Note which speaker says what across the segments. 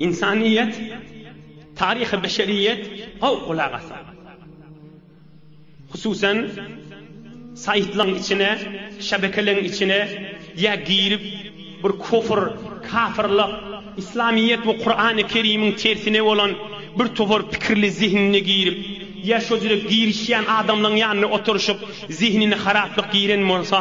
Speaker 1: Insaniýet, taryhy beşeriýet howpulagasa. Hususan, saýtlaň içine, şebekeleň içine ýa girip, bir kufr, kafyrlyk, Islamiýet we Kurany Kerimiň tersine bolan bir topar pikirli zehinine girip, ýa şo jüre girişýän adamlaň ýanynda oturyşyp, zehinine haraplyk giren bolsa,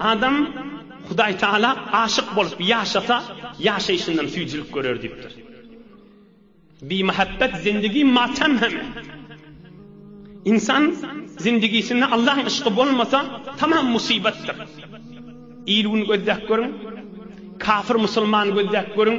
Speaker 1: Adam Hudaý Tagala aşyk bolup ýaşasa, ýaşaýşyndan süýjülik görer diýipdir. Bimähäbbet zindigi matem hem. Ynsan zindigisinde Allahyň yşky bolmasa, tamam musybatdyr. Il-gün gözläp görüň, kafir-musulmany gözläp görüň.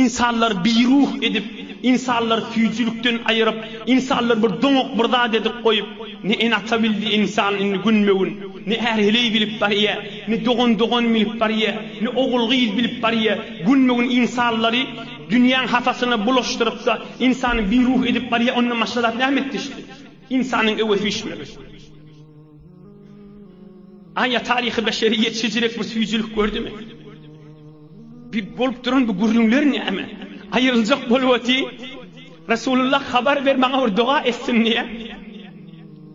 Speaker 1: Ynsanlary biruh edip, ynsanlary süýjülikden aýyryp, ynsanlary bir doňak bir zat edip goýup, ne ene-ata bildi ynsan indi günbe-gün, ne är-heleý bilip barýar, ne dogan-dogan bilip barýar, ne ogul-gyz bilip barýar, günbe-gün ynsanlary dünýäň hasasyna bulaşdyryp-da, ynsany biruh edip barýar, ondan başga zat näme etdi şol? Ynsanyň öwesi üýşmegi. Aýa taryhy beşeriýet şejirek bir süýjülik gördümi? Bu bolup duran bu gürrüňler näme? Aýryljak bolup oty. Resulullah habar ber maňa bir doga etsin diýe.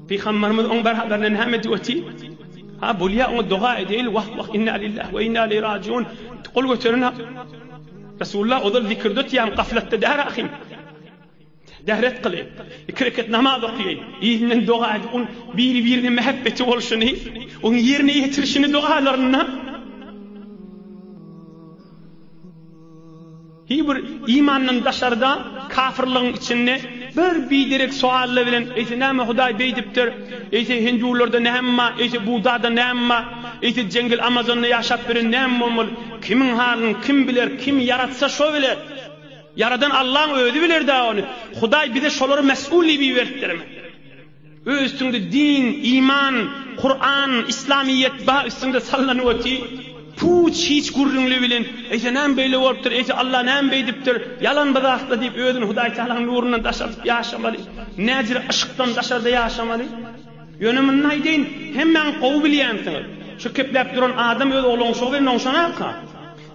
Speaker 1: Pygamberimiz oň beraberine näme diýip oty? Ha bolýa oňa doga edeýil. Wah wah inna lillahi we inna ileýhi rajiun. Gol göteren Resulullah ozal zikirde otýan gaflatda däl ahim. Dehret kyly, iki reket namaz oky, yzyndan doga aýdy, onuň biri-birine mähepbeti bolşuny, onuň ýerine ýetirişini dogalarynda. Hiý bir imandan daşarda, kafyrlygyň içinde bir biderek sowalla bilen, eýse näme Hudaý beýdipdir, eýse hindularda näme bar, eýse Buddada näme bar, eýse jeňgel Amazonda ýaşap bilen näme bolmaly, kimiň halyny kim biler, kim ýaratsa şo biler. Ýaradan Allaň özi biler-dä ony. Hudaý bize şolary mes'ul diýip iberipdirmi? Öz üstüňde din, iman, Kuran, islamyýet ba üstüňde sallanyp oty. Puç hiç gürrüňli bilen, eýse näme beýle bolupdyr, eýse Allah näme beýdipdir, ýalan bir zatda diýip özüni Hudaý Tagalaň nurundan daş atyp ýaşamaly. Näzire yşkdan daşarda ýaşamaly. Ýöne muny aýdaýyn, hemmäň gowy bilýänsiňiz. Şu kepläp duran adam öz ogluň şo bilen oňşanarka.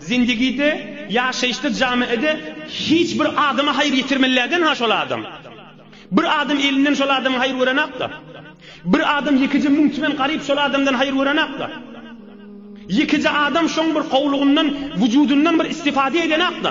Speaker 1: Zindigide, ýaşaýyşda, jamiede hiç bir adama haýyr ýetirmelläden ha şol adam. Bir adam elinden şol adamyň haýyr görenakda. Bir adam ýekeje müň tümen garyp şol adamdan haýyr görenakda. Ýekeje adam şoň bir gowlugyndan, wujudyndan bir istifade edenakda.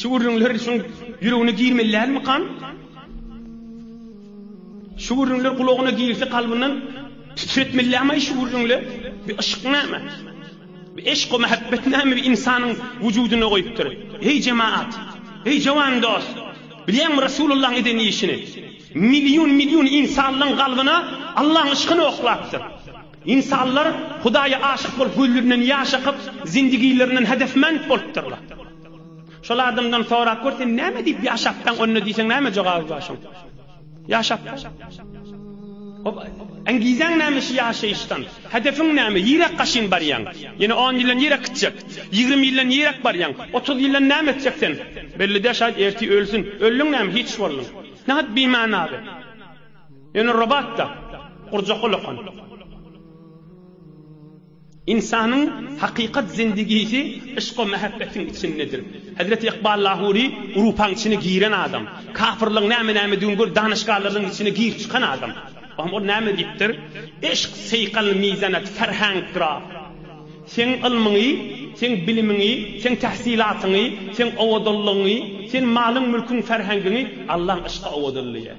Speaker 1: Şu gürrüňler şuň ýüregine girmelidälmikan? Şu gürrüňler gulagyna girse kalbyndan titretmelidämi şu gürrüňler? Bir yşk näme? Bir eşk we muhabbet näme bir insanyň wujudyna goýupdyr? Eý jemaat! Eý jawan dost! Bilýäňmi Rasulullahyň eden işini? Million-million insanlaryň kalbyna Allahyň yşkyny oklapdyr. Ynsanlar Hudaýa aşyk bolup gülünden ýaş akyp, zindigilerinden hedefmend bolupdyrlar. Şol adamdan sorap gör sen näme diýip ýaşapdaň onda diýseň näme jogaby bar şoň? Ýaşap. Hop, engizeň näme şu ýaşaýyşdan? Hedefiň näme? Ýirak gaşyn barýaň. Ýene 10 ýyldan ýirak gitjek. 20 ýyldan ýirak barýaň. 30 ýyldan näme etjek sen? Belli däl şaýt ertir ölsün. Öldüň näme hiç bolduň. Nähak bimana be. Ýöne robotda gurjak olakan. Ynsanyň hakykat zindigisi yşk-u mähebbetiň içindedir. Hezreti Ykbal Lahury Urupaň içine giren adam. Kapyrlygyň näme-nämedigini görüp danyşgalarynyň içine girip çykan adam. Bahym ol näme diýipdir? Yşk seýkal mizanet ferhengdra. Seň ylmyňy, seň bilimiňi, seň tähsilatyňy, seň owadanlygyňy, seň malyň-mülküň ferhengiňi Allaň yşky owadanlaýar.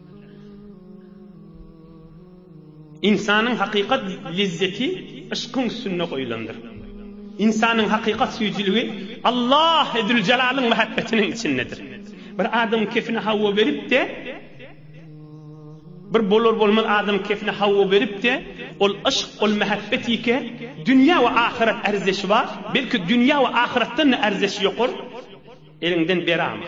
Speaker 1: Ynsanyň hakykat lezzeti yşkyň üstünde goýlandyr. Ynsanyň hakykat süýjüligi Allahy Züljelalyn mähebbetiniň içindedir. Bir adamyň kefine hawa berip-de, bir bolar-bolmaz adamyň kefine hawa berip-de, ol yşk, ol mähebbet ýeke, dünýä we ahyrat ärzeşi bar, belki dünýä we ahyratdan-da ärzeşi ýokar, eliňden berama.